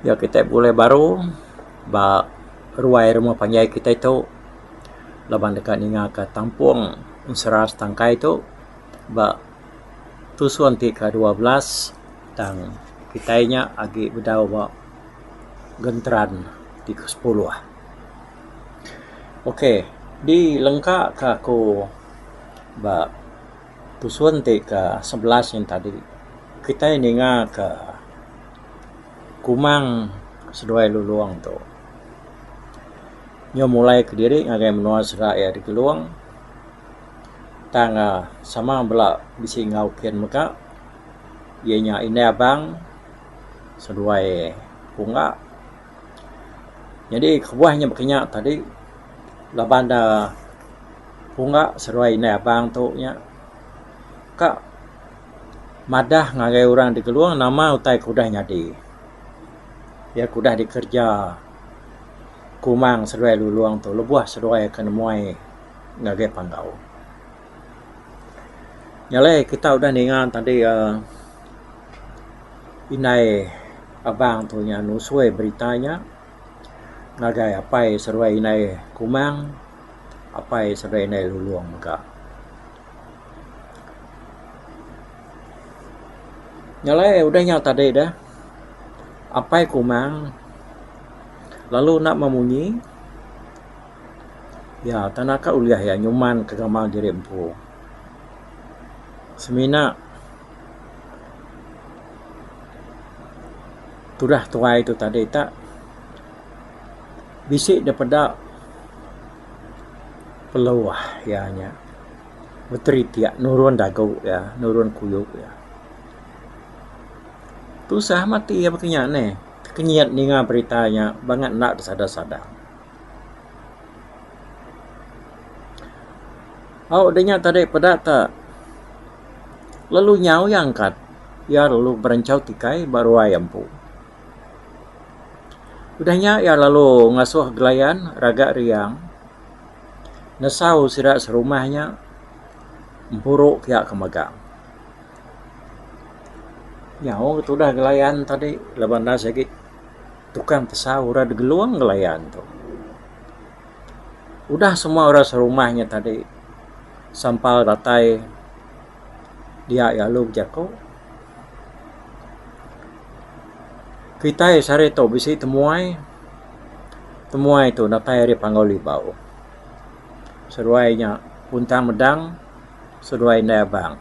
Iya kitai bulai baru ba ruai rumah panjai kitai tu laban deka ninga ka tampung ensera setangkai tu ba tusun ti ka dua belas tang kitai nya agi bedau ba genteran ti ke sepuluh. Ok di lengka ka aku ba pusun ti ka sebelas sien tadi kitai ninga ka kumang seduai lulong tu nyau mulai kediri ngagai menua sera iya di Gelong tang uhh sama bala bisi enggau kin mega iya nya India Abang seduai Ongga. Nyadi kebuah inya baka inya tadi laban ne punga seruai indai abang tu nya ka madah ngagai orang ti Gelong nama utai ku udah nyadi. Iya ku udah dikereja kumang seruai Lulong tu lebuh seruai ke nemuai ngagai Panggau. Nya alai kita udah ninga tadi uhh indai. Abang tu nya nusoi berita nya ngagai apai seruai indai Kumang, apai seruai indai Lulong mega. Nya alai udah nya tadi deh apai Kumang lalu enda meh munyi iya tan aka ulih iya nyumanka gamal diri empu semina tudah tuai tu tadi ta bisi da peda peluah iya nya menteri pia nurun dagu iya nurun kuyup iya. Tusah mati iya baka inya neh tekenyit ninga berita nya bangat enda besada sada. Au dinya tadi peda ta. lalu nyau iya angkat iya lalu berenchau tikai ba ruai empu. Udah nya iya lalu ngasuh gelayan raga riang nesau sida serumah nya empuru ke iya ke megang. Nyau ke tudah gelayan tadi laban enda sigi tukang tesau ira degelung gelayan tu. udah semua orang serumah inya tadi sampal datai dia iya lalu bejaku kitai sehari tu bisi temuai, temuai tu datai ari Panggau Libau seduai inya Puntang Medang seduai Indai Abang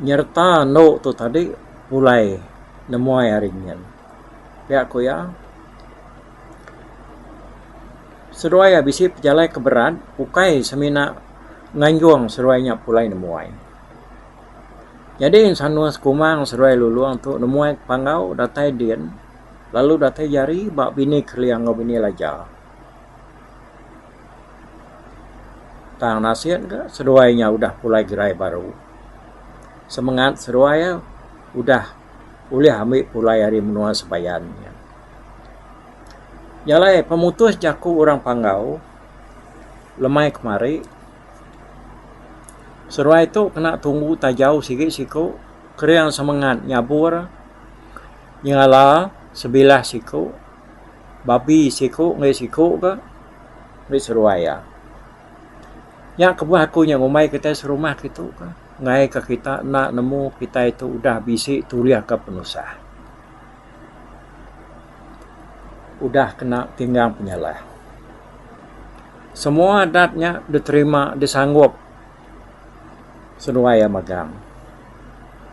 nyereta andu tu tadi pulai nemuai ari nyin pia ku iya. Seduai iya bisi pejalai ke berat ukai semina nganjung seduai nya pulai nemuai. Nyadi sanuh sekumang seduai Lulong tu nemuai ke panggau datai din lalu datai jari ba Bini Keling enggau Bini Laja. Tang nasin ke seduai nya udah pulai gerai baru. Semengat seduai iya udah ulih ambi pulai ari menua Sebayan. Nya alai pemutus jaku orang Panggau lemai kemari seruai tu kena tumbu tajau sigi siku kering semengat nyabur nyengala sebilah siku babi siku enggau siku ka meri seruai iya. Nya kebuah aku nya ngumbai kitai serumah kitu ka ngaika kita enda nemu kitai tu udah bisi tulih ka penusah. udah kena tinggang penyalah. Semua adat nya diterima disanggup seduai iya megang.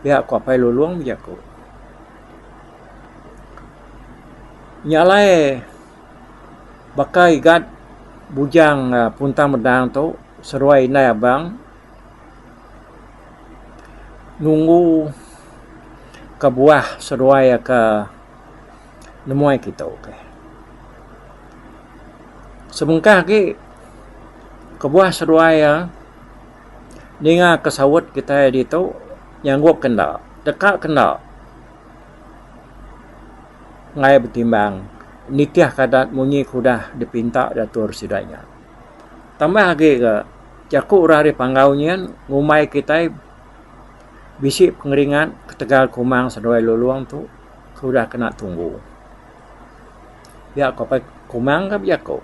Pia ku Apai Lulong bejaku. Nya alai baka igat bujang Puntang Medang tu seduai indai abang. nunggu kebuah seduai ke nemuai kita okey. Sebengkah agi kebuah seduai iya ninga ke saut kita ditu nyanggop ke enda teka ke enda ngai betimbang nitih ke adat munyi ke udah dipinta datur sida nya. Tambah agi ga jaku orang ri Panggau nyin ngumbai kitai bisi pengeringat ketegal kumang seduai Lulong tu ke udah kena tunggu. Pia ko pai kumang ka bejaku.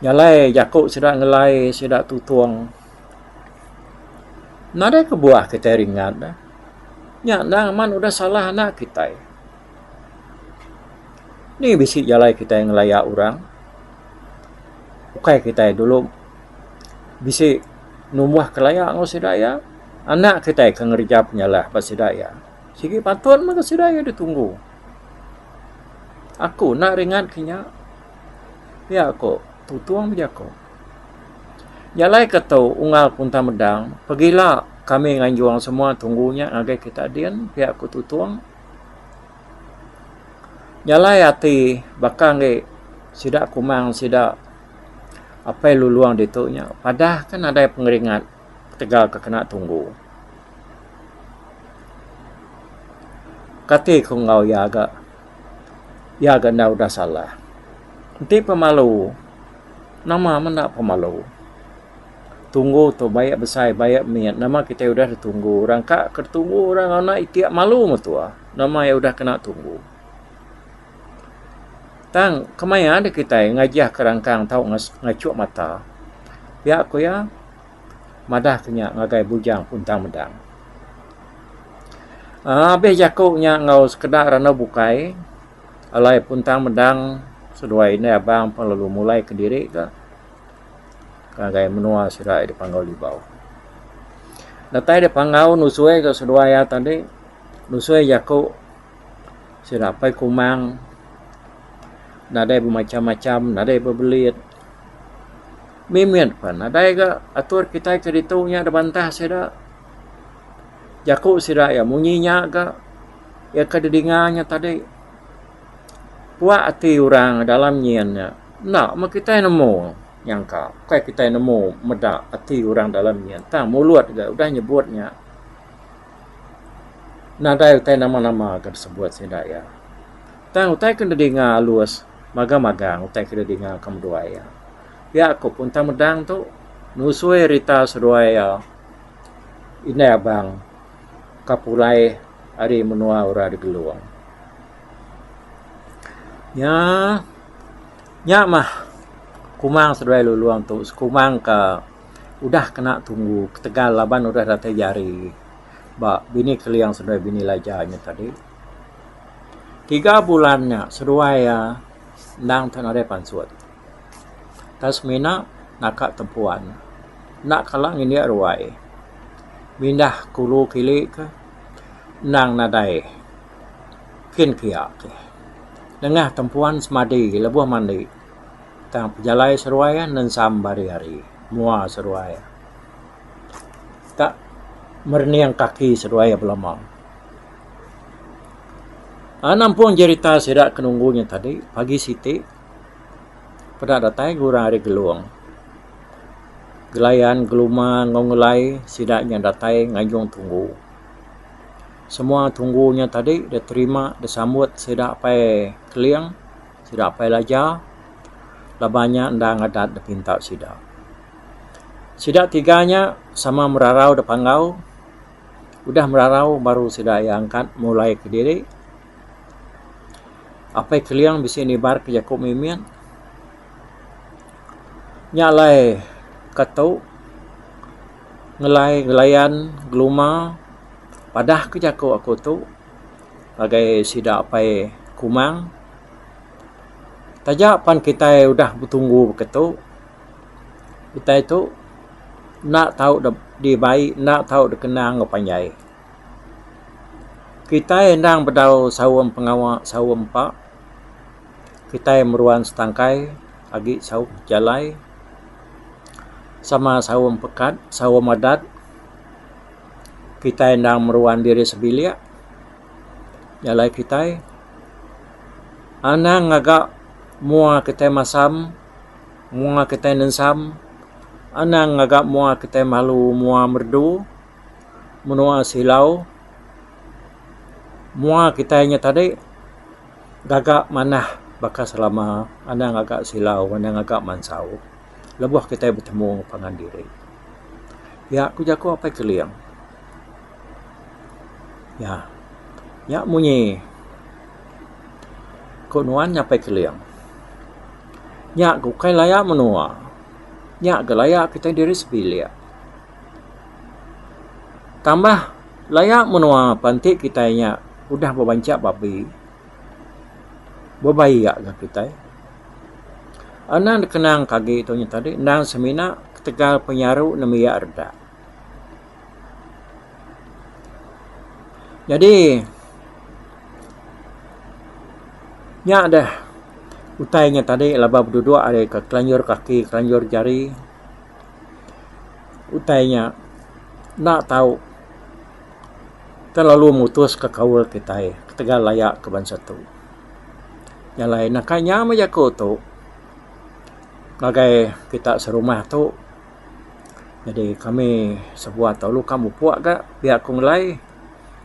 Jalai jaku sida ngelai sida tutong. Nadai kebuah kitai ringat deh. Nya endang amat udah salah anak kitai. Ni bisi jalai kitai ngelaya orang. Ukai kitai dulu bisi numbuh kelaya enggau sida iya, anak kitai ke ngereja penyalah ba sida iya. Sigi patut mega sida iya ditunggu. Aku enda ringat ke nya. Pia ku Tutong bejaku. Jalai ke tu unggal kuntang meda, pegila kami nganjung semua tunggu nya ngagai kita din, pia ku Tutong. Nyalai ati baka enggai sida kumang sida apai luluong ditu nya padah ke nadai pengeringat ketegal ke kena tunggu. Kati ku enggau iya ga iya ga enda udah salah. Enti pemalu nama menda pemalu. tunggu tu bayak besai bayak mit nama kitai udah da tunggu orang ka ke tunggu orang anak iti malu metua nama iya udah kena tunggu tang kemaya deh kitai ngajah ka rangkang tau ngachuk mata pia ku iya madah ke nya ngagai bujang puntang mendang aaa abih jaku nya enggau sekeda randau bukai alai puntang mendang seduai indai abang pelalu mulai kediri ka. ngagai menua sida iya dipanggau Libau. Datai dep panggau nusui gak seduai iya tadi, nusui jaku sida apai kumang nadai bemacam-macam, nadai bebelit. Mit mit pen nadai gak atur kitai keditu nya dibantah sida. Jaku sida iya munyi nya gak iya ke didinga nya tadi puak ati orang dalam nyin nya. Enda meh kitai nemu nyangka ukai kitai nemu meda ati orang dalam nya tang mulut ga udah nyebut nya nadai utai nama-nama ke disebut sida iya. Tang utai ke didinga alus magang-magang utai ke didinga ka menua iya. Pia ku pun tang meda tu nusui rita seduai iya indai abang ka pulai ari menua Ura Digelung. Nya. Nya mah kumang seduai Lulong tu sekumang ka udah kena tunggu ketegal laban udah datai jari ba Bini Keling seduai Bini Laja nya tadi. Tiga bulan nya seduai iya endang tau nadai pansut. Tau semina naka tempuan enda kala ngindik ruai mindah kulu kili ke endang nadai. kin kia ke nengah tempuan semadi lebuh mandi tang pejalai seruai nensam bari hari mua seruai ka merening kaki seruai belama a nampung jerita sida ke nunggu nya tadi pagi siti peda datai ke orang ari Gelong gelayan geluma enggau ngelai sida nya datai ngajung tunggu. Semua tunggu nya tadi deh terima deh sambut sida apai Keling sida apai Laja laban nya enda ngadat deh pinta sida. Sida tiga nya sama merarau deh panggau udah merarau baru sida iya angkat mulai kediri. Apai Keling bisi nibar ka jaku mimit nya alai ka tu ngelai ngelayan geluma. Padah ke jaku aku tu ngagai sida apai Kumang taja pan kitai udah betunggu ke tu kitai tu enda tau dibai enda tau dikena enggau panjai. Kitai endang bedau saum pengawa saum empa kitai meruan setangkai agi saum pejalai sama saum pekat saum adat. kitai endang meruan diri sebilik jalai kitai anang ngaga mua kitai masam mua kitai nensam anang ngaga mua kitai malu mua merdu menua silau mua kitai nya tadi gaga manah baka selama anang ngaga silau anang ngaga mansau. lebuh kitai betemu pangan diri. Nya ku jaku Apai Keling. Nya, nya munyi ku nuan nya Apai Keling. Nya ku kai laya menua. Nya ga laya kitai diri sebilik. Tambah laya menua pan ti kitai nya udah bebanchak babi. Bebai iya ga kitai. Anak dikenang ke agi tu nyentadi endang semina ketegal penyaru nembiak redak. Nyadi nya deh utai nya tadi laban laban beduduk ari ke kelanjur kaki kelanjur jari utai nya enda tau Kita lalu mutuska kaul kitai ketegal laya ke bansa tu. Nya alai naka inya meh jaku tu ngagai kita serumah tu. Jadi kami sebuah tu lalu ka mupuk ga pia ku ngelai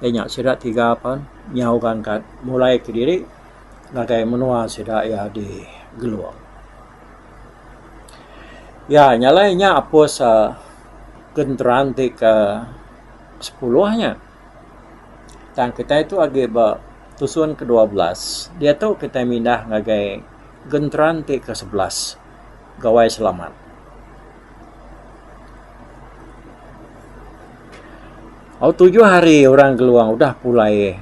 iya nya sida tiga pen nyau ga angkat mulai kediri ngagai menua sida iya di Gelong. Ya nya alai inya apus genteran ti ke sepuluh nya tang kitai tu agi ba tusun ke dua belas diatu kitai mindah ngagai genteran ti ke sebelas Gawai Selamat au tujuh hari orang Gelong udah pulai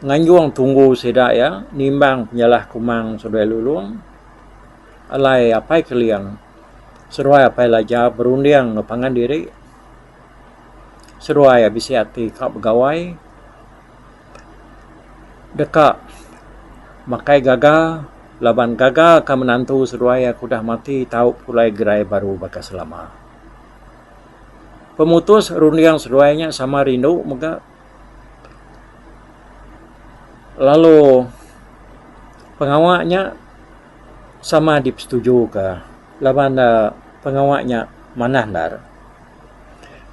nganjung tunggu sida iya nimbang penyalah Kumang seduai Lulong alai Apai Keling seduai Apai Laja berunding enggau pangan diri. seduai a bisi ati ka begawai deka makai gaga laban gaga ka menantu seduai aku udah mati tau pulai gerai baru baka selama. Pemutus runding seduai nya sama rindu mega lalu pengawa nya sama dipesetuju ka laban ne pengawa nya manah ndar.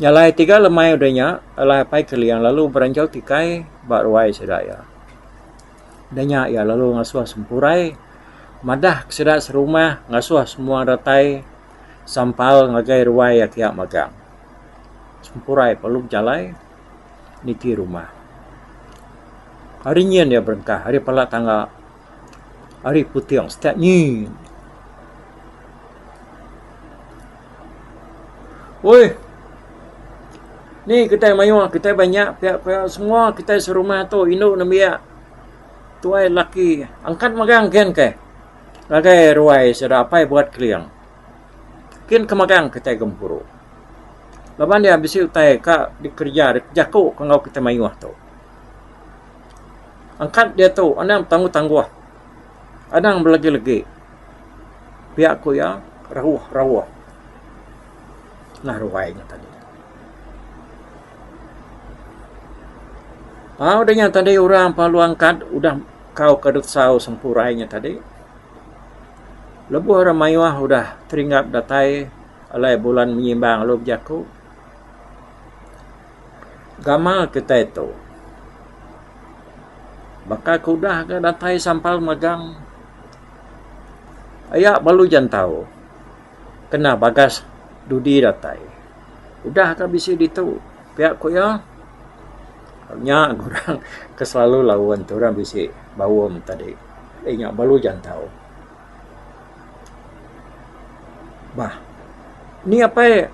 Nyalai tiga lemai udah nya, alai Apai Keliang lalu beranjau tikai ba ruai sida iya. Udah nya iya lalu ngasuh sempurai madah ke sida serumah ngasuh semua datai sampal ngagai ruai iya kiya magang. Sempurai lalu bejalai niti rumah. Hari nyin iya berengkah ari pala tangga. ari puting stat nyi. Uih ni kitai mayuh kitai ba nya pia pia semua kitai serumah tu indu nembiak tuai laki angkat magang gin keh ngagai ruai sida apai buat keling gin ke magang kitai gempuru laban iya bisi utai ka dikereja dijaku enggau kitai mayuh tu. Angkat diatu anang betangguh tangguh. Anang belegi legi. Pia ku iya rauh rauh. Nah ruai nya tadi. Tau deh nya tadi orang palu angkat udah kau ke dut sau sempurai nya tadi. Lebuh rak mayuh udah teringap datai alai bulan menyimbang lalu bejaku. gamal kitai tu baka ku udah ga datai sampal megang aya balu jantau kena bagas dudi datai udah ga bisi ditu pia ku iya nya ga orang ke selalu laun tu orang bisi baum tadi inya balu jantau. Bah. Ni apai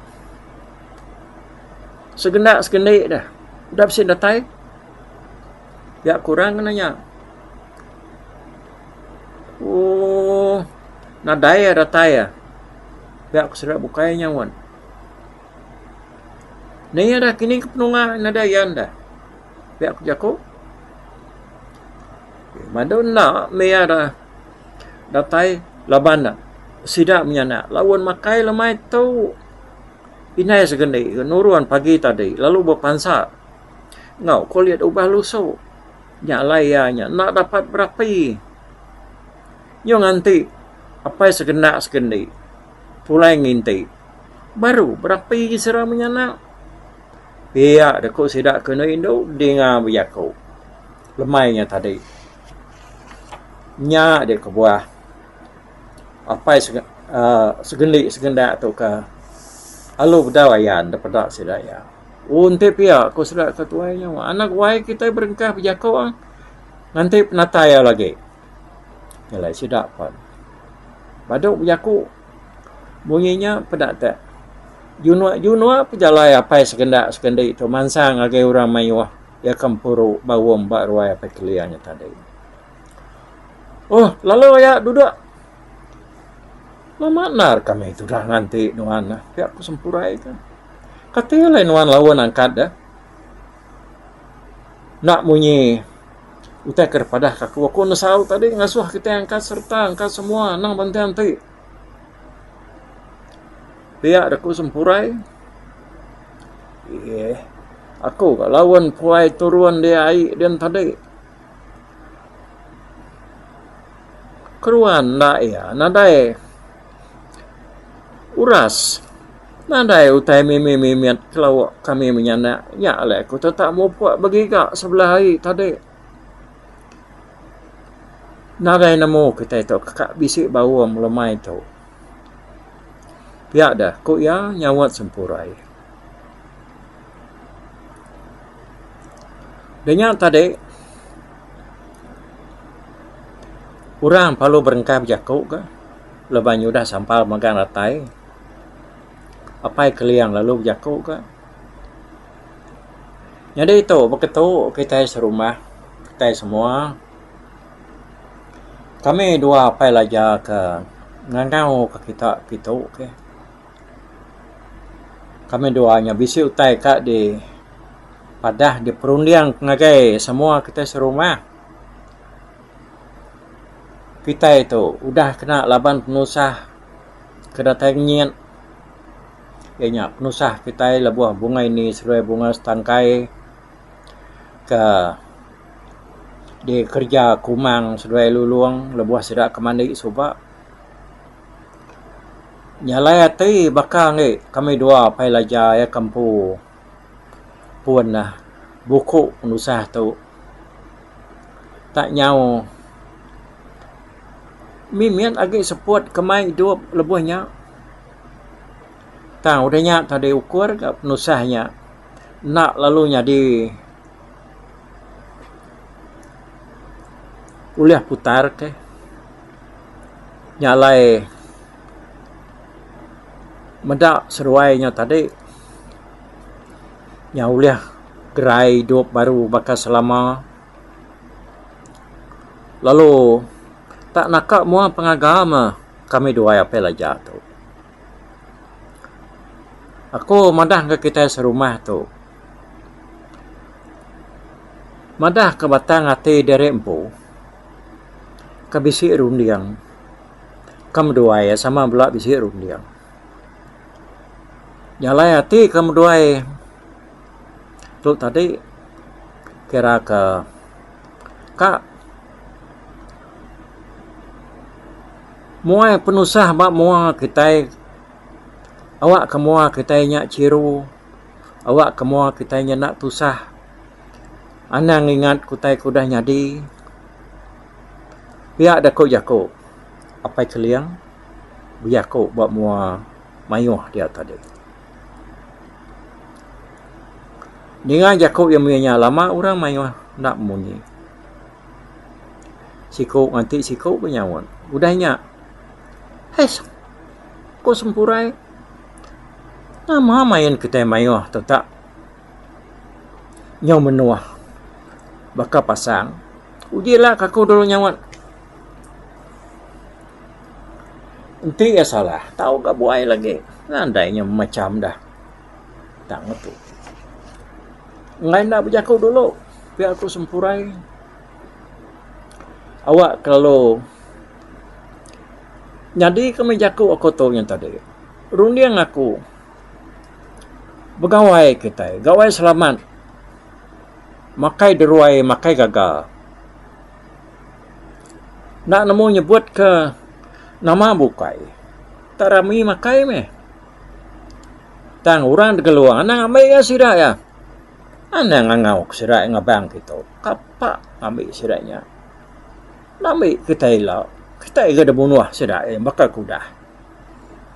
segenda segendi deh. Udah bisi datai. Nya kurang ne nya. Ooh nadai iya datai iya. Nya ku sida bukai nyaut. Ni deh kining ke penunga nadai iya deh. Pia ku jaku. Madu enda mih iya deh. datai laban ne sida menyana laun makai lemai tu indai sekendi ke nurun pagi tadi lalu bepansa enggau kulit ubah lusu nya alai iya nya enda dapat berapi nyung nganti apai sekenda sekendi pulai nginti baru berapi sida menyana pia de ku sida ke enda indu dinga bejaku. Lemai nya tadi. Nya deh kebuah apai uhh segendi segenda tu ka alu bedau ayan deh peda sida iya. Ohh enti pia ku sida ke tuai nya anak wai kitai berengkah bejaku nganti penatai alu agi. Nyelai sida pen. Badu bejaku munyi nya peda te junuk junuk pejalai apai segenda segendi tu mansang agi orang mayuh. Iya ke empuru baum ba ruai apai kelia nya tadi. Oh, lalu iya duduk. Lama endar kami tudah nganti nuan eh. Pia ku sempurai tu. Kati alai nuan laun angkat deh. Enda munyi utai ke dipadah ka aku. Aku enda saut tadi ngasuh kitai angkat sereta angkat semua anang banting ti. Pia da ku sempurai eeh aku ka lawen puai turun di ai din tadi. Keruan enda iya nadai uras nadai utai mimit mimit kelo kami menyanak nya alai aku tetap mupuk begiga sebelah ai tadi. Ngagai nemu kitai tu ka bisi baung lemai tu. Pia deh ku iya nyaut sempurai. Dia nya tadi orang perlu berengkah bejaku ka laban iya udah sampal megang ratai. Apai Keliang lalu bejaku ka. Nyadi tu baka tu kitai serumah kitai semua kami dua apai laja ke ngangau ka kita kitu keh kami dua nya bisi utai ka di padah di perunding ngagai semua kitai serumah kitai tu udah kena laban penusah ke datai ngenyit. iya nya penusah kitai lebuh bunga ini seduai bunga setangkai ke dikereja kumang seduai lulong lebuh sida ke mandi suba nyalai ati baka ange kami dua pai laja iya ke empu pun neh buku penusah tu tak nyau mimit agi seput kemai idup lebuh nya. Tang udah nya tadi ukur ga penusah nya enda lalu nyadi ulih putar kah nya alai meda seduai nya tadi nya ulih gerai idup baru baka selama lalu tak naka mua pengaga mah. kami duai apih laja tu. Aku madah enggau kitai serumah tu, madah ke batang ati diri empu ke bisi runding ke meduai iya sama bala bisi runding. Jalai ati ke meduai tu tadi kira ke ka Muai penusah ba mua kitai awak ke mua kitai nya chiru awak ke mua kitai nya enda tusah anang ingat utai ke udah nyadi pia deh ku jaku Apai Keling bejaku ba mua mayuh dia tadi. Ninga jaku iya mih nya lama orang mayuh enda munyi. Siku nganti siku ke nyaut. Udah nya, Hais! ku Sempurai. Nama main kitai mayuh tu tak? Nyau menua baka pasang. Uji ila ke aku dulu nyaut. Enti iya salah, tau ga buai lagi. Nadai nya mecham dah. tang aku. Enggai enda bejaku dulu pia aku sempurai awak kelalu nyadi ke mih jaku aku tu nya tadi runding aku begawai kitai gawai selamat makai deruai makai gaga enda nemu nyebut ke nama bukai enda rami makai mih. Tang orang da keluar anang ambi iya sida iya. Anang ngangau ka sida iya ngebang kitu. Kapa ambi sida nya. Ambi kitai ila. Kitai ga da bunuh sida iya baka ku udah.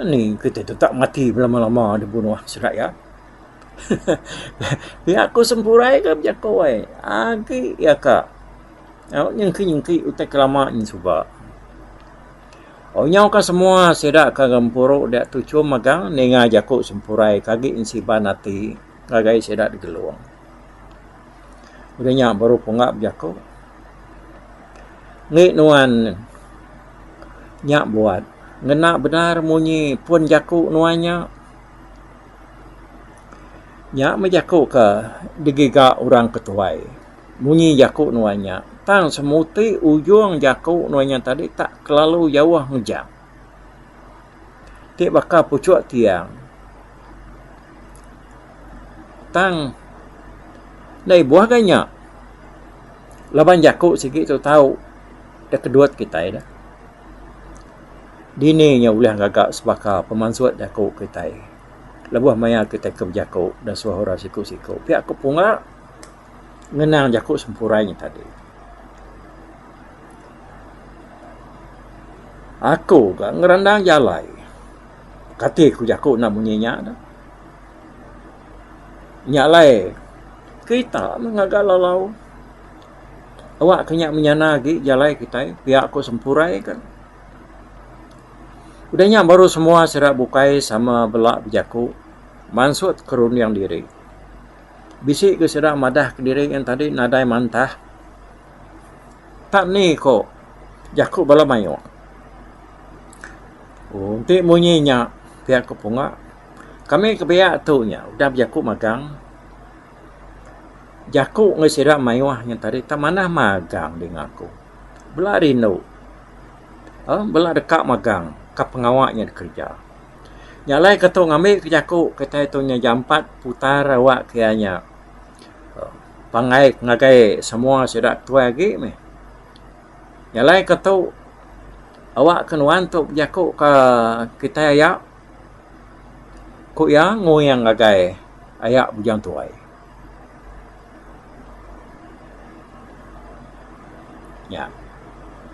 Ani kitai tetap mati belama-lama da bunuh sida iya. Pia ku sempurai ga bejaku ai. Agi iya ka nyengki-nyengki utai ke lama nya suba. Au nyau ka semua sida ka gempuru dia tuchum mega ninga jaku sempurai ke agi ensiban ati ngagai sida digelung. Udah nya baru punga bejaku Engi nuan nya buat ngena bendar munyi pun jaku nuan nya. Nya meh jaku ke digiga orang ketuai. Munyi jaku nuan nya, tang semuti ujung jaku nuan nya tadi tak kelalu jauh ngejang. Ti baka puchuk tiang, tang enda ibuh ga nya laban jaku sigi tu tau da kedut kitai dah. Dini nya ulih ngaga sebaka pemansut jaku kitai lebuh maya kitai ke bejaku da suah orang siku-siku. Pia ku punga. ngenang jaku sempurai nya tadi. Aku ga ngerandang jalai. Kati ku jaku enda munyi nya dah. Nya alai kerita meh ngaga lalau. Awak ke nya menyana agi jalai kitai pia ku sempurai ka. Udah nya baru semua sida bukai sama bela bejaku mansut ke runding diri. Bisi ke sida madah kediri ngan tadi nadai mantah. Tak ni ko jaku bala mayuh. Ooh enti munyi nya pia ko punga kami ke pia tu nya udah bejaku magang. Jaku ngan sida mayuh nya tadi tak manah magang dinga ku. Bela rindu. Aaa bela deka magang ka pengawa nya dikereja. Nya alai ke tu ngambi ke jaku kitai tu nya jampat putar awak ke iya nya pangai ngagai semua sida tuai agi meh. Nya alai ke tu awak ke nuan tu bejaku ka kitai aya ku iya nguing ngagai aya bujang tuai. Nya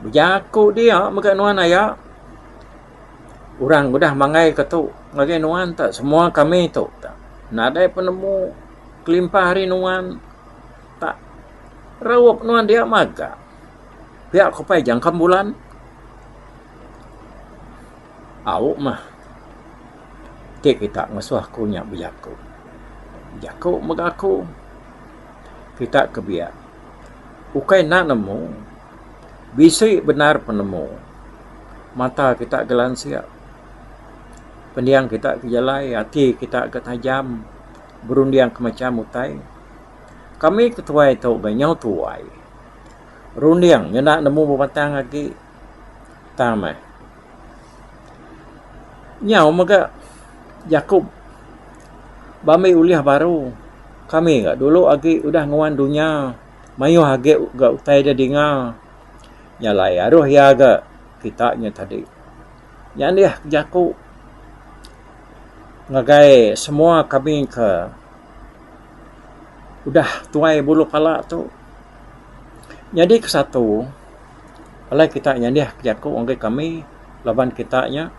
bejaku dia mega nuan aya. Orang udah manggai ke tu ngagai nuan ta semua kami tu ta nadai penemu kelimpah ari nuan ta raup nuan dia maga pia ko pai jangkem bulan au meh ti kita ngesuh ku nya bejaku bejaku mega aku kita ke biak ukai enda nemu. Bisi bendar penemu mata kita gelansik pendiang kita ke jalai ati kita ke tajam berunding ke macham utai kami ke tuai tu ga nyau tuai runding nyenda nemu bebatang agi tang meh nyau mega jaku ba ambi ulih baru kami ga dulu agi udah nguan dunya. mayuh agi ga utai dia dinga nya alai aruh iya ga kita nya tadi. Nya alih ke jaku ngagai semua kami ke udah tuai bulu pala tu nyadi ke satu alai kita nyadih ke jaku ngagai kami laban kita nya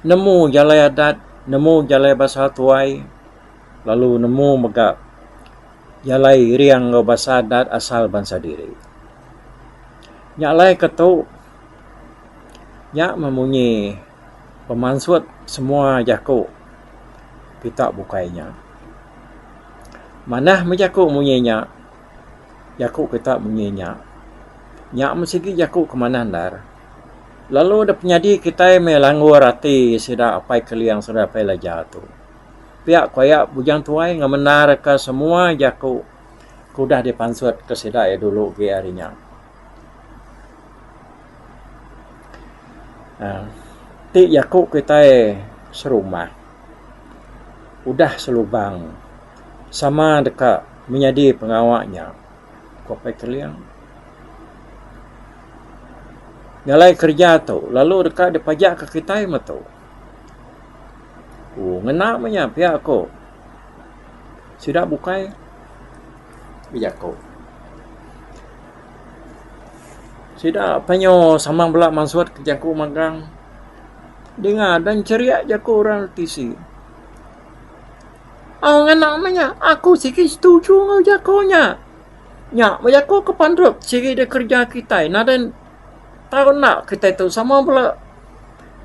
nemu jalai adat nemu jalai basa tuai lalu nemu mega Iya alai iring enggau basa adat asal bansa diri. Nya alai ke tu nya meh munyi pemansut semua jaku kita bukai nya. Manah meh jaku munyi nya, jaku kita munyi nya. Nya meh sigi jaku ke manah ndar. Lalu dep nyadi kitai meh langgur ati sida Apai Keling, Apai Laja tu. pia ku iya Bujang Tuai ngemendarka semua jaku ke udah dipansutka sida iya dulu agi ari nya. uhh ti jaku kitai serumah udah selubang sama deka menyadi pengawa nya, ku Apai Keling. Ngalai kerja tu lalu deka dipajak ke kitai metu. Oh ngena meh nya pia ko sida bukai bejako. Sida penyo samang bela mansut ke jako magang denga dan ceria jako orang ti tisi. Oh ngena meh nya aku sigi setuju enggau jako nya. Nya meh jako ke pandup sigi da kereja kitai nadai tau enda kitai tu sama bala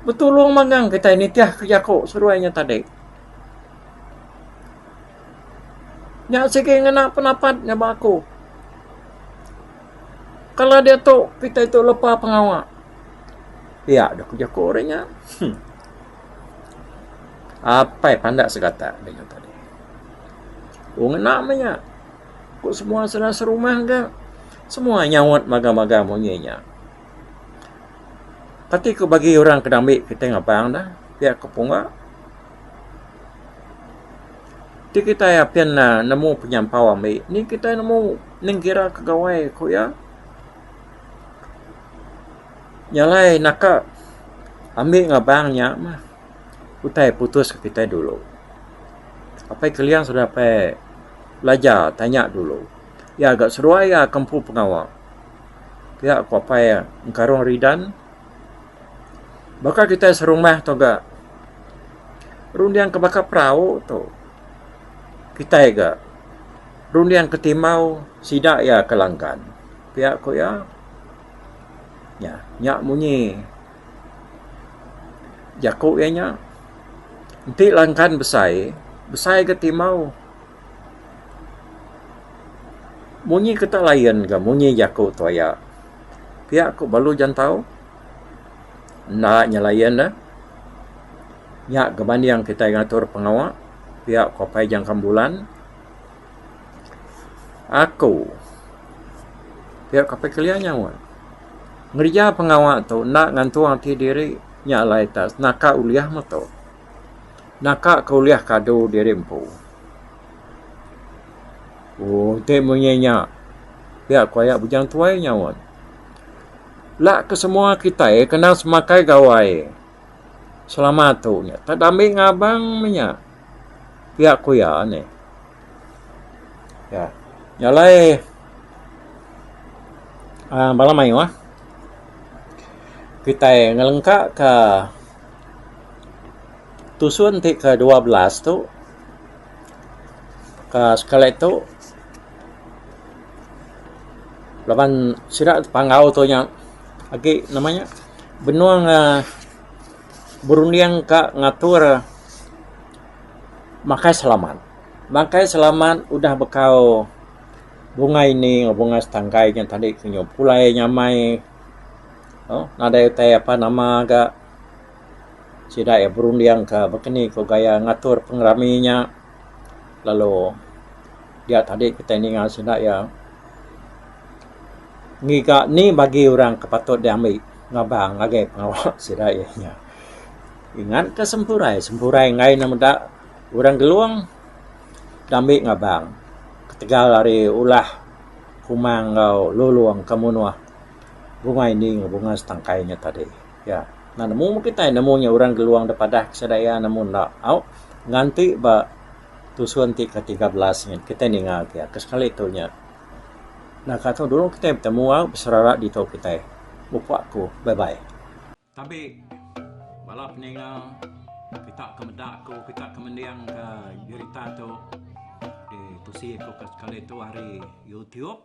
betulung magang kitai nitih ke jaku seduai nya tadi. Nya sigi ngena pendapat nya ba aku. Kalau diatu kitai tu lepa pengawa pia doh ke jaku ri nya. Hum. Apai pandak segata ri nya tadi. Oh ngena meh nya. Ku semua sera serumah ga. Semua nyaut magang-magang munyi nya. Pati ku bagi orang ke dambi kitai ngabang ne pia ke punga ti kitai apin ne nemu penyampau ambi nih kitai nemu ning kira ke gawai ku iya nya alai naka ambi ngabang nya mah utai putus ke kitai dulu. Apai kelia sudah apai belajar tanya dulu. Iya ga seruai iya ke empu pengawa. Pia ku apai iya, Engkarong Ridan. Baka kitai serumah tu ga runding ke baka perau tu. Kitai ga runding ke timau sida iya ke langgan. Pia ku iya. Nya, nya munyi jaku iya nya. Enti langgan besai, besai ga timau. Munyi ke tak layan ga munyi jaku tu aya. Pia ku balu jantau enda nya layan ne. Nya gebaning kitai ngatur pengawa pia ku apai jangkang bulan. Aku pia ku apai kelia nyawa ngereja pengawa tu enda ngantung ati diri nya alai tak naka ulih meto. naka ke ulih kadu diri empu. Ooh enti munyi nya pia ku aya Bujang Tuai nyaut. Ela ke semua kitai kena semakai gawai selama tu nya tak ada ambi ngabang meh nya. Pia ku iya nih. Dah nya alai aaa bala mayuh kitai ngelengkaka. tusun ti ke dua belas tu aaa sekali tu laban sida panggau tu nya agi nama nya benung aaa berunding ka ngatur makai selamat. Makai selamat udah bekau bunga ini enggau bunga setangkai nya tadi ku nyu pulai nyamai nadai utai apa nama ga. sida iya berunding ka bakani ko gaya ngatur pengerami nya lalu dia tadi kitai ninga sida iya ngiga ni bagi orang ke patut diambi ngabang ngagai pengawa sida iya nya. Ngan ka sempurai, sempurai enggai ne meda orang Gelong diambi ngabang ketegal ari ulah Kumang enggau Lulong ka Munoh bunga indi enggau bunga setangkai nya tadi. Ya, nah nemu meh kitai nemu nya orang geluang da padah ke sida iya nemu enda. Au nganti ba tusun ti ke tiga belas nyin kitai ninga agi iya ke sekali tu nya. Nah ka tu dulu kitai betemu au beserara ditu kitai. Upa ku bye bye. Tapi bala peninga kita ke meda ku kita ke mending ke berita tu ditusi ku ke sekali tu ari youtube.